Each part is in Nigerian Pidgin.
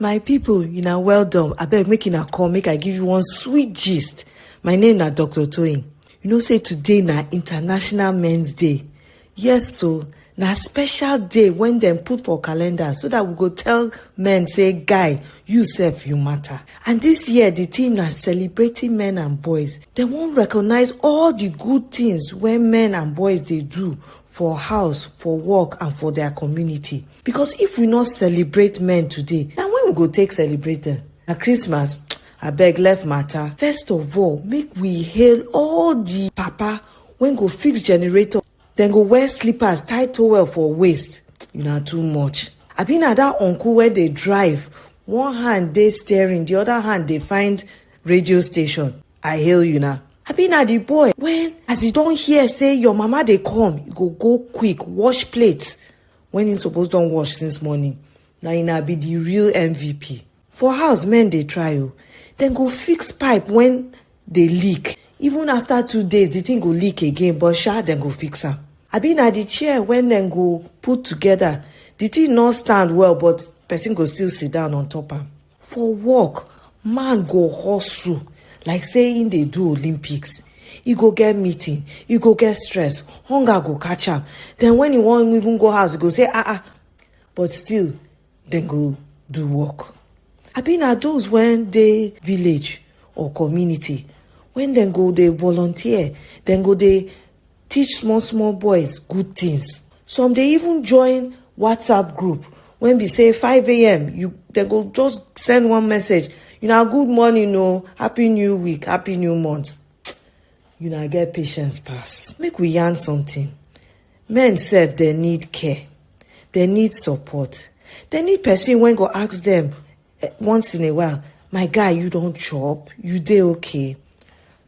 my pipo una well done abeg make una come make i give you one sweet gist my name na dr toyin you know say today na international men's day yes so na special day when dem put for calendar so that we go tell men say guy you sef you matter and this year the theme na celebrating men and boys dem wan recognize all the good things wey men and boys dey do for house for work and for their community because if we no celebrate men today na when we go take celebrate them. na christmas abeg left matter first of all make we hail all the papa wey go fix generator dem go wear slippers tie towel for waist una too much abi na that uncle wey dey drive one hand dey steering the other hand dey find radio station i hail you na abi na the boy when as e don hear say your mama dey come you go go quick wash plate when him suppose don wash since morning na him na be the real mvp for house men dey try o dem go fix pipe when dey leak even after two days the thing go leak again but sha dem go fix am abi na the chair when dem go put together the thing no stand well but person go still sit down on top am For work, man go hustle like say im dey do Olympics. E go get meeting, e go get stress, hunger go catch am. Then when e wan even go house, e go say, ah ah, but still, dem go do work. Abi na those when dey village or community when dem go dey volunteer, dem go dey teach small small boys good things some dey even join whatsapp group when be say 5am you they go just send one message you know good morning o oh, happy new week happy new month you know get patience pass make we yarn something men sef they need care they need support they need person when go ask them eh, once in a while my guy you don't chop you dey okay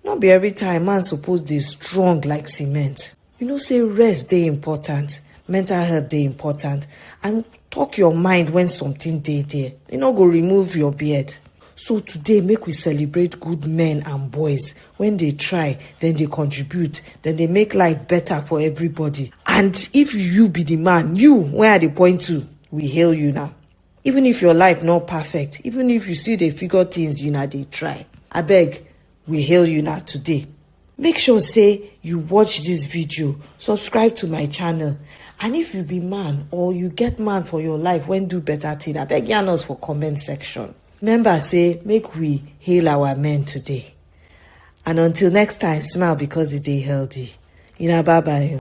Not be every time man suppose they strong like cement you know say rest they important mental health they important and talk your mind when something dey there You no go remove your beard so today make we celebrate good men and boys when they try then they contribute then they make life better for everybody and if you be the man you where are the point to we hail you now even if your life not perfect even if you still dey figure things you na dey try abeg we hail you na today make sure say you watch this video subscribe to my channel and if you be man or you get man for your life when do better thing abeg yarn us for comment section remember say make we hail our men today and until next time smile because e dey healthy una bye bye